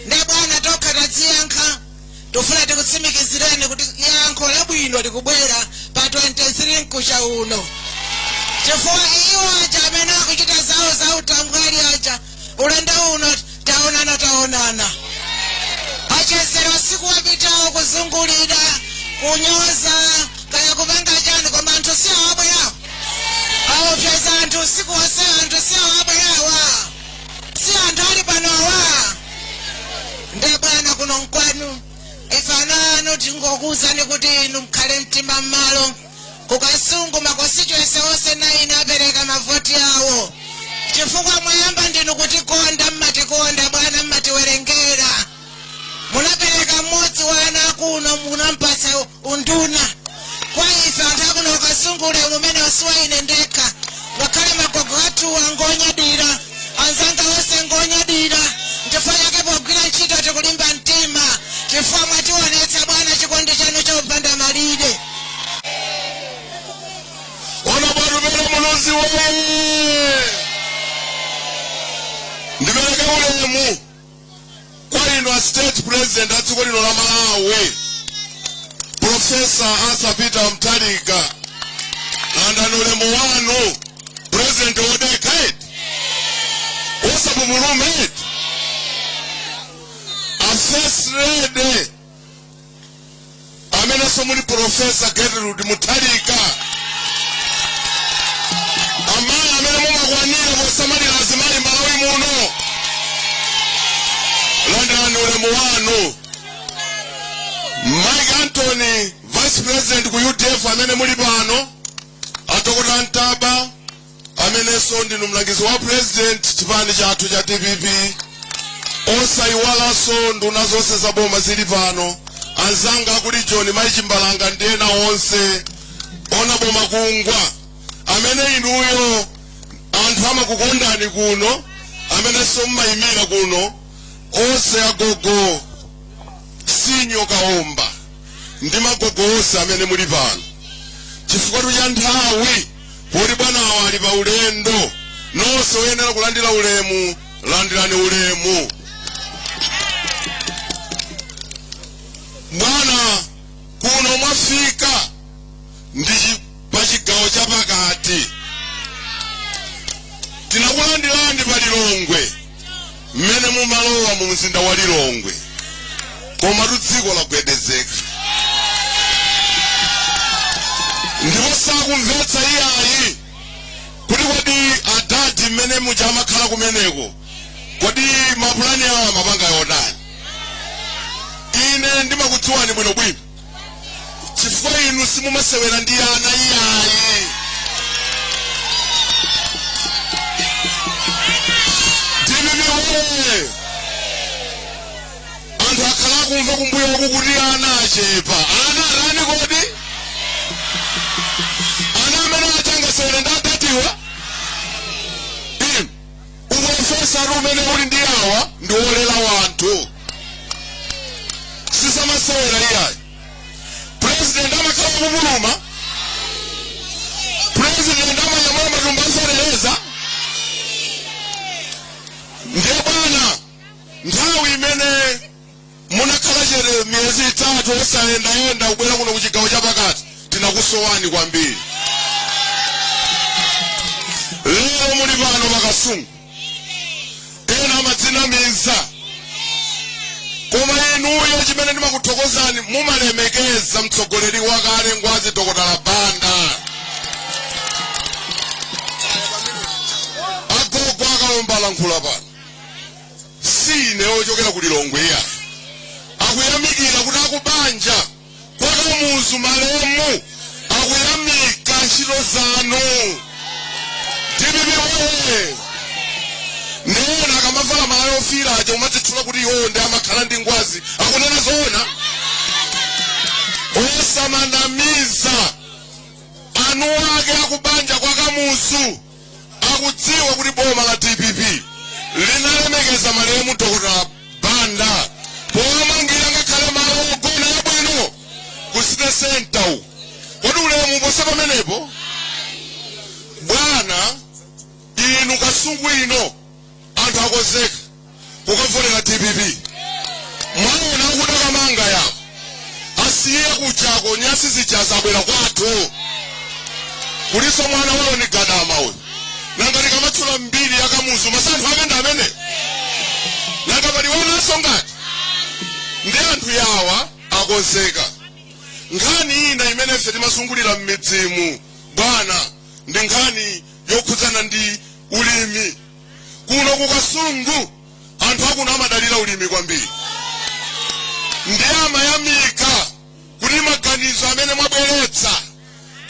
Nde bwana pokhapo tidziyankha tufuna tikutsimikizireni kuti yankho labwino likubwera pa 23 mkucha uno chifukwa iwo aja amene akuchita zawo za utambwali aja ulendo uno taonana taonana achezera usiku wapitawo kuzungulira kunyoza kaya kupanga chani koma anthu si awabwerawo aopseza anthu usiku wonse anthu si awabwerawa si anthu ali panowa nde bwana kuno nkwanu ife ana anu tingokuwuzani kuti inu mkhale mtima mmalo ku Kasungu makonstituency onse naini apereka mavoti awo chifukwa mwayamba ndinu kutikonda mmatikonda bwana mmatiwerengera munapereka mmodzi wa ana akuno munampatsa unduna kwa ife anthu akuno ku Kasungu ulemu umenewu si wa ine ndekha ngakhale magogo athuwa ngonyadira anzanga onse ngonyadira chifukwa chake pogwira ntchito tikulimba mtima chifukwa mwatiwonetsa bwana chikondi chanu chopanda malire onabo Tupele Muluzi moyo ndipereke ulemu kwa inu a state president a dziko lino la malawi profesa arthur peter mutharika landirani ulemu wanu president wodekha eti osapupuluma eti a first lady amenenso muli profesa gertrude mutharika amayi amene mumakwanira posamalira azimayi malawi muno landirani ulemu wanu mike antony vice president ku udf amene muli pano a dokotala ntaba amenenso ndinu mlangizi wa president chipani chathu cha dpp osayiwalanso nduna zonse za boma zili pano anzanga ankolo joni mayi chimbalanga ndi ena onse onabo makungwa amene inuyo anthu amakukondani kuno amenenso mmayimira kuno onse agogo senior kaomba ndi magogo onse amene muli pano chifukwa cha nthawi poti bwanawa ali pa ulendo nonse oyenera kulandira ulemu landirani ulemu bwana kuno mwafika ndi pa chigawo cha pakati tinakulandirani pa lilongwe mmene mumalowa mu mzinda wa lilongwe komatu dziko lagwedezeka ndipo sakumvetsa iyayi kuti kodi adadi mmene muja amakhala kumeneko kodi mapulani awo amapanga yotani ine ndimakudziwani bwinobwino chifukwa inu simumasewera ndi ana iyayi dpp woye anthu akhala akumva kumbuyo uku kuti ana achepa ana arani kodi ana amene atangasewera ndi adadiwa upulofesa umene uli ndi awa ndi wolera anthu sizamasewera iyayi president amakhala kupuluma president amanyamula matumba aserereza ndiye bwana nthawi imene munakhala chete miyezi itatu osayendayenda kubwera kuno ku chigawo chapakati tinakusowani kwambiri lero muli pano pakasungu ena amadzinamiza koma inuyo chimene ndimakuthokozani mumalemekeza mtsogoleri wakale ngwazi dokotala banda agogo akalomba alankhula pano si ine ochokera ku lilongwe iya akuyamikira kuti akubanja kwa kamuzu malemu akuyamika ntchito zanu dpp woye ndiona akamavala malaya ofiira aja amadzitchula kuti iwowo ndi amakhala ndi ngwazi akunena zoona osamanamiza eni ake akubanja kwa kamuzu akudziwa kuti boma la dpp linalemekeza malemu dr banda powamangira ngakhale malo ogona abwino ku city center uku kodi ulemu oposa pamenepo bwana inu kasungu ino anthu akonzeka kukavotera dpp mwaona kuda kamanga ya asiye kuchako nyasi zija zabwera kwathu kuliso mwana wawo ni gadama uyu nanga likamatchula mbiri yakamuzu masanthu ake ndi amene nanga pali wanaso ngati ndi anthu yawa akonzeka nkhani ina imene ife timasangalalira m'midzimu bwana ndi nkhani yokhudzana ndi ulimi kuno ku kasungu anthu akuno amadalira ulimi kwambiri ndi amayamika kuti maganizo amene mwabweretsa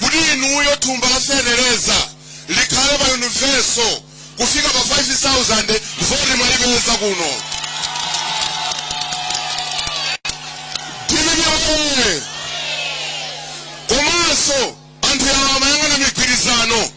kuti inuyo thumba la fetereza likhale pa universal kufika pa 5000 voti mwayipeza kuno timinyowe komanso anthu awa amayang'ana migwirizano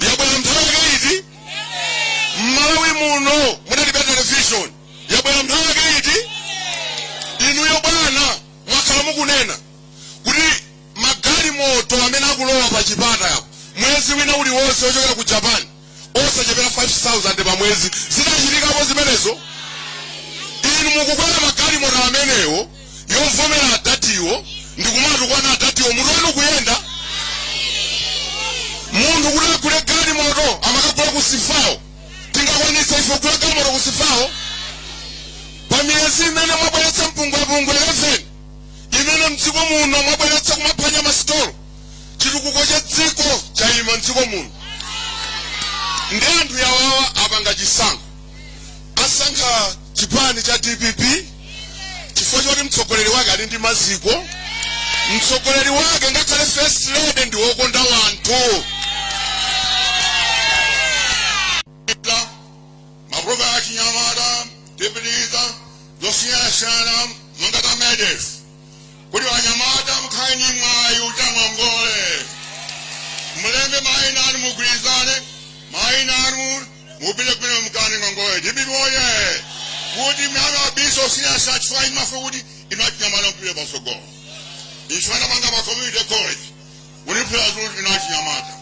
yabwera mnthawi yake iti m'Malawi muno munalibe televishoni yabwera mnthawi yake iti inuyo bwana mwakhala mukunena kuti magalimoto amene akulowa pa chipata apo mwezi wina uliwonse ochokera ku japan osachepera 5000 pa mwezi zidachitikapo zimenezo inu mukukwera magalimoto amenewo yovomera adatiwo ndikumatukwana adatiwo mutu wanu kuyenda munthu kuti agule galimoto amakagula kusifawo tingakwanitsa ife kugula galimoto kusifawo pa miyezi imene mwabweretsa mpungwepungwe 11 imene mdziko muno mwabweretsa kumaphwanya masitolo chitukuko cha dziko chayima mdziko muno ndi anthu yawawa apanga chisankho asankha chipani cha dpp chifukwa choti mtsogoleri wake ali ndi maziko mtsogoleri wake ngakhale first lady ndi wokonda anthu Ita, maprogramu achinyamata tipitiriza zosiyanasiyana monga za medef kuti achinyamata mukhale ndi mwayi wotenga ngongole mulembe maina anu mugwirizane maina anu mupite kumene mukatenge ngongole dpp oye kuti mwana wa biso zosiyanasiyana chifukwa imafuna kuti inu achinyamata mupite patsogolo ifuna manga ma community college uniphula kuti inu achinyamata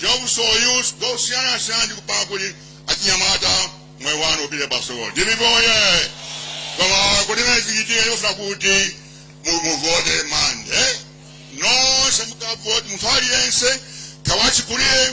job so use zosiyanasiyana ndi kupanga kuti achinyamata moyo wanu upite patsogolo dpp oye koma kuti zimenezi zichitike ikufuna kuti mu- muvote mande nonse mukavote munthu aliyense kaya wachikulire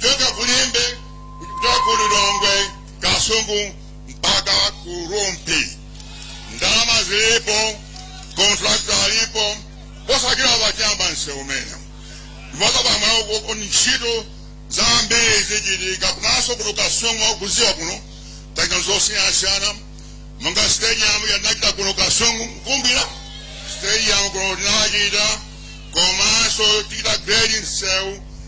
kuchoka kulimbe kuchoka ku lilongwe kasungu mpaka ku rumpi ndalama zilipo kontrakta alipo posachedwa apa ayamba msewu umene ndiposa pamweko ntchito zambiri zichitika kunonso kuno kasungu mukudziwa kuno tapanga zosiyanasiyana monga stadium ya tinachita kuno kasungu kumbira stadium kuno tinachita komanso tichita grading msewu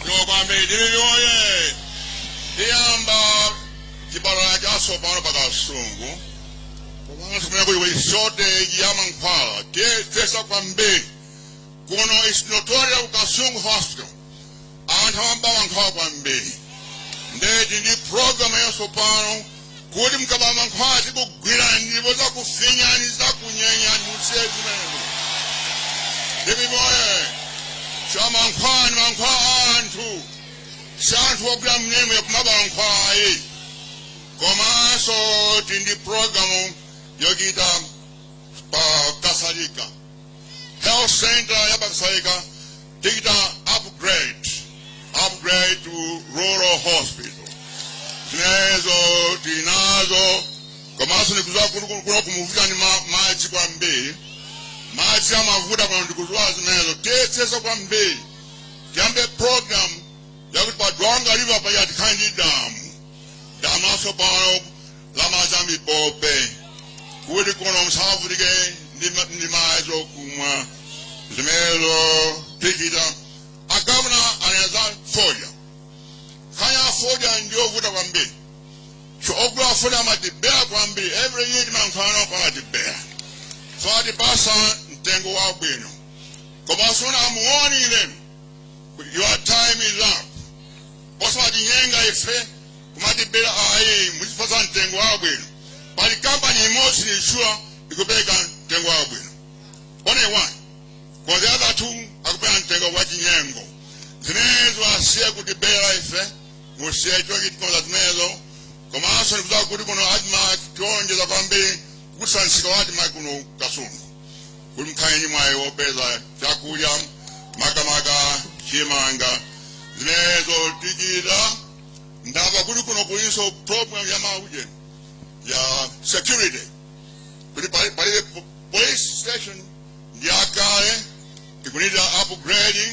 Ndiwo kwambiri ndilili oye tiyamba chipatala chatsopano pa kasungu komanso kumene kuli kuli shortage ya mankhwala tiyesetsa kwambiri kuno is notorious kasungu hospital anthu amaba mankhwala kwambiri nde ti ndi programu yatsopano kuti mkaba mankhwala tikugwirani ndipo zakufinyani zakunyenyani musiye zimenezo ndipimoye cha mankhwala ni mankhwala anthu si anthu ogwira mmenemo kumaba mankhwala ayi komanso ti ndi programu yochita pa kasalika health center ya pa kasalika tichita upgrade upgrade to rural hospital zimenezo tinazo komanso ndikuziwa kuti ku- kuno kumavutika ndi ma- madzi kwambiri madzi amavuta pano ndikuziwa zimenezo tiyesetsa kwambiri tiyambe program yakuti pa dwangwa river paja tikhale ndi damu latsopano la madzi a mipope kuti kuno musavutike ndi ma- ndi madzi okumwa zimenezo tichita a governor anena za fodya nkhani ya fodya ndiyovuta kwambiri so ogula fodya amatibera kwambiri every year timankhano pamatibera satipasa mtengo wabwino koma sona amuoni ilenu your time is up osawatinyenga ife kumatibera ayi muzipatsa mtengo wabwino pali kampani imodzi nishula ikupereka mtengo wabwino only one koma the other two akupereka mtengo wa chinyengo zimenezo asiye kutibera ife musiye chochitikoza zimenezo komanso ndikuziwa kuti kuno admarc tionjeza kwambiri ku msika wa admarc kuno kasungu kuti mkhale ndi mwayi wopeza chakudya makamaka chimanga zimenezo tichita ndamva kuti kuno kulinso problem ya mauje ya security kuti pali- palibe po- police station ndi yakale ikunida upgrading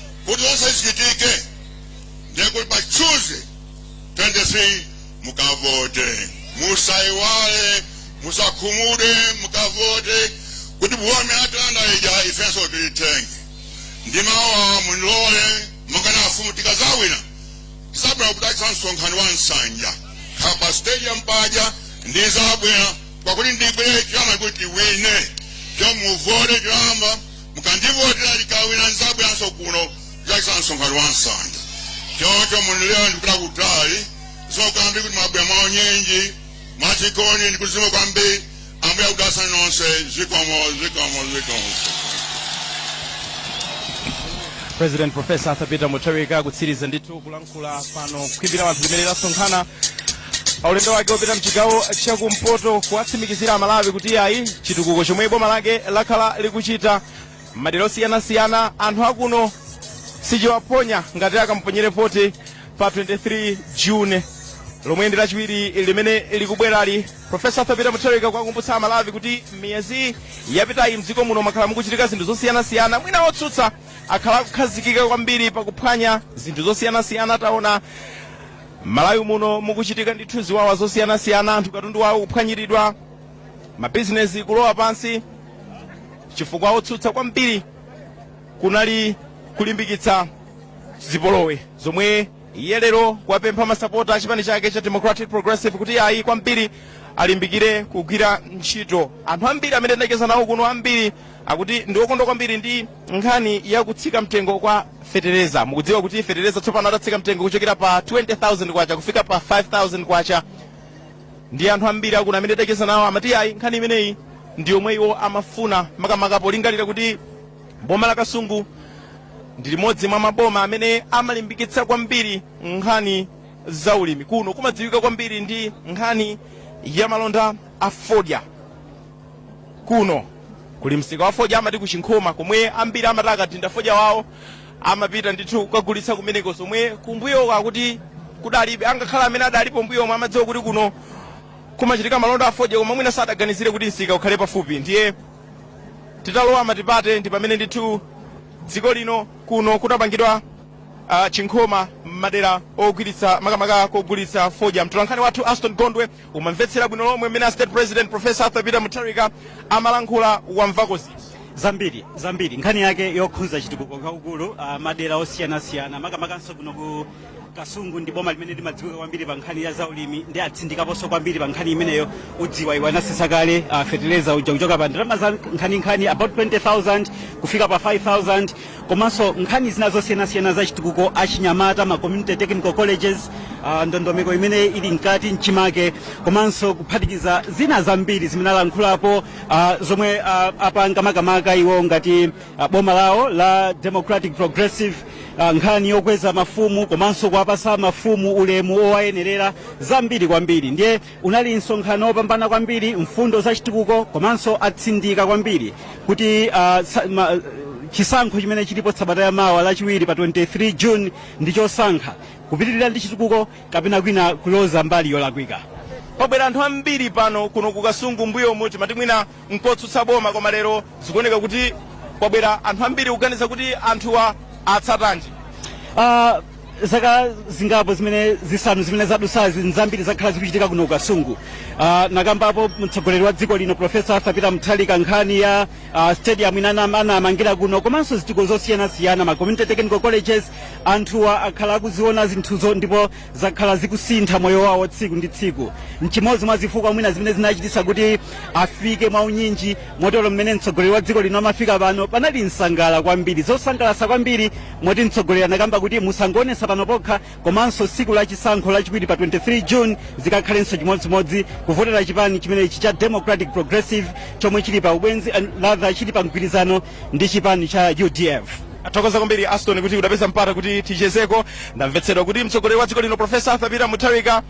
kuti zonse zichitike ndiye kuti pa tuesday 23 mukavote musayiwale musakhumudwe mukavote kuti boma atilanda ija ifenso tilitenge ndi mawa mundilole mukana afumu tikazawina tizabwera kudalitsa msonkhano wa nsanja apa pa stadium paja ndizabwera pakuti ndibwere chama kuti iwine chomuvote chilamba mukandivotera ndikawina ndizabweranso kuno kuzachitsa msonkhano wa pansanja choncho mundilole ndikupita kutali zokambi kuti mwabwera mwaunyinji mwachikondi ndikuyamika kwambiri ambuye akudalitseni nonse zikomo zikomo zikomo president professor arthur peter mutharika akutsiriza ndithu kulankhula kula pano ku khwimbi la anthu limene lasonkhana pa ulendo wake wopita mchigawo chakumpoto kuwatsimikizira amalawi kuti ayi chitukuko chomwe boma lake lakhala likuchita madera osiyanasiyana anthu akuno sichiwaphonya ngati akamponyere voti pa 23 june lomwe ndi lachiwiri limene likubwerali profesa arthur peter mutharika kwakumbutsa amalawi kuti miyezi yapitayi mdziko muno mwakhala mukuchitika zinthu zosiyanasiyana mwina otsutsa akhala akukhazikika kwambiri pakuphwanya zinthu zosiyanasiyana taona malawi muno mukuchitika ndithu ziwawa zosiyanasiyana anthu katundu wawo kuphwanyiridwa mabizinesi kulowa pansi chifukwa otsutsa kwambiri kunali kulimbikitsa zipolowe zomwe iye lero wapempha masapota a chipani chake cha democratic progressive kuti ayi kwambiri alimbikire kugwira ntchito anthu ambiri amene ndacheza nawo kuno ambiri akuti ndi okondwa kwambiri ndi nkhani ya kutsika mtengo kwa fetereza mukudziwa kuti fetereza tsopano adatsika mtengo kuchokera pa 20000 kwacha kufika pa 5000 kwacha ndiye anthu ambiri akuno amene ndacheza nawo amati ayi nkhani imeneyi ndi yomwe iwo amafuna makamaka polingalira kuti boma la kasungu ndi limodzi mwa maboma amene amalimbikitsa kwambiri nkhani za ulimi kuno kumadziwika kwambiri ndi nkhani ya malonda a fodya kuno kuli msika wa fodya amati kuchinkhoma komwe ambiri amati akadinda fodya wawo amapita ndithu kukagulitsa kumeneko zomwe kumbuyoku akuti kudalibe angakhale amene adalipo mbuyomo amadziwa kuti kuno kumachitika malonda a fodya koma mwina sadaganizire kuti msika ukhale pafupi ndiye ditalowa matipate ndi pamene ndithu dziko lino kuno kudapangidwa uh, chinkhoma m'madera ogwiritsa makamaka kogulitsa fodya mtolankhani wathu aston gondwe umamvetsera bwino lomwe mmene a state president professor arthur peter mutharika amalankhula wamvako ziti zambiri nkhani yake yokhudza chitukuko chachikulu uh, madera osiyanasiyana makamakanso kuno ku kasungu ndi boma limene limadziwika kwambiri pa nkhani ya zaulimi ndiye atsindikaponso kwambiri pa nkhani imeneyo ukudziwa iwo anatsitsa kale uh, feteleza uja kuchoka pa ndalama za nkhaninkhani about 20000 kufika pa 5000 komanso nkhani zina zosiyanasiyana za chitukuko achinyamata ma community technical colleges uh, ndondomeko imene ili mkati mchimake komanso kuphatikiza zina zambiri zimene alankhulapo uh, zomwe uh, apanga makamaka iwo ngati uh, boma lawo la democratic progressive uh, nkhani yokweza mafumu komanso kuwapasa mafumu ulemu owayenerera zambiri kwambiri ndiye Unali msonkhano wopambana kwambiri, mfundo za chitukuko komanso atsindika kwambiri kuti uh, sa, ma, chisankho chimene chilipo sabata ya mawa lachiwiri pa 23 June ndi chosankha kupitirira ndi chitukuko kapena kwina kuloza mbali yolakwika. Pabwera anthu ambiri pano kuno ku Kasungu mbuyomu timati mwina nkotsutsa boma koma lero zikuoneka kuti kwabwera anthu ambiri kuganiza kuti anthuwa atsatanji Ah, zaka zingapo zimene zisanu zimene zadutsazi zambiri zakhala zikuchitika kuno ku kasungu Ah, anakambapo mtsogoleri wa dziko lino profesa arthur peter mutharika nkhani ya ah, stadium ina anam- anamangira kuno komanso zitukuko zosiyanasiyana ma community technical colleges anthuwa akhala akuziona zinthuzo ndipo zakhala zikusintha moyo wawo tsiku ndi tsiku nchimodzi mwa zifukwa mwina zimene zinachititsa kuti afike mwa unyinji motero mmene mtsogoleri wa dziko lino amafika pano panali nsangalalo kwambiri zosangalatsa kwambiri moti mtsogoleri anakamba kuti musangoonetsa pano pokha komanso tsiku la chisankho lachiwiri pa 23 june zikakhalenso chimodzimodzi kuvotera chipani chimenechi cha democratic progressive chomwe chili pa ubwenzi or rather chili pa mgwirizano ndi chipani cha udf tathokoza kwambiri aston kuti udapeza mpata kuti tichezeko tamvetsedwa kuti mtsogoleri wa dziko lino profesa arthur peter mutharika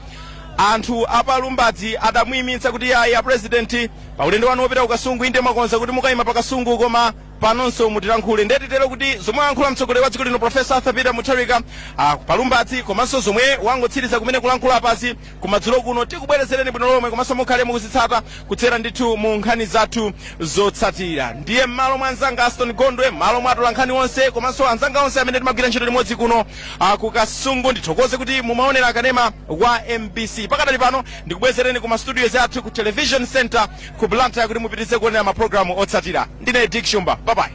anthu a pa lumbadzi adamuyimitsa kuti ayi a president pa ulendo wanu wopita ku kasungu inde mwakonza kuti mukayima pa kasungu koma panonso mutilankhule nde titero kuti zomwe ayankhula mtsogoleri wa dziko lino profesa arthur peter mutharika ah, pa lumbadzi komanso zomwe wangotsiriza kumene kulankhula apazi kumadzulo kuno tikubwerezereni bwino lomwe komanso mukhale mukuzitsata kudzera ndithu mu nkhani zathu zotsatira ndiye m'malo mwa anzanga aston gondwe m'malo mwa atolankhani onse komanso anzanga onse amene timagwira ntchito limodzi kuno ah, ku kasungu ndithokoze kuti mumaonera kanema wa mbc pakadali pano ndikubwezereni ku mastudios athu ku television center ku blantyre kuti mupitirize kuonera mapulogalamu otsatira ndine dick shumba babayi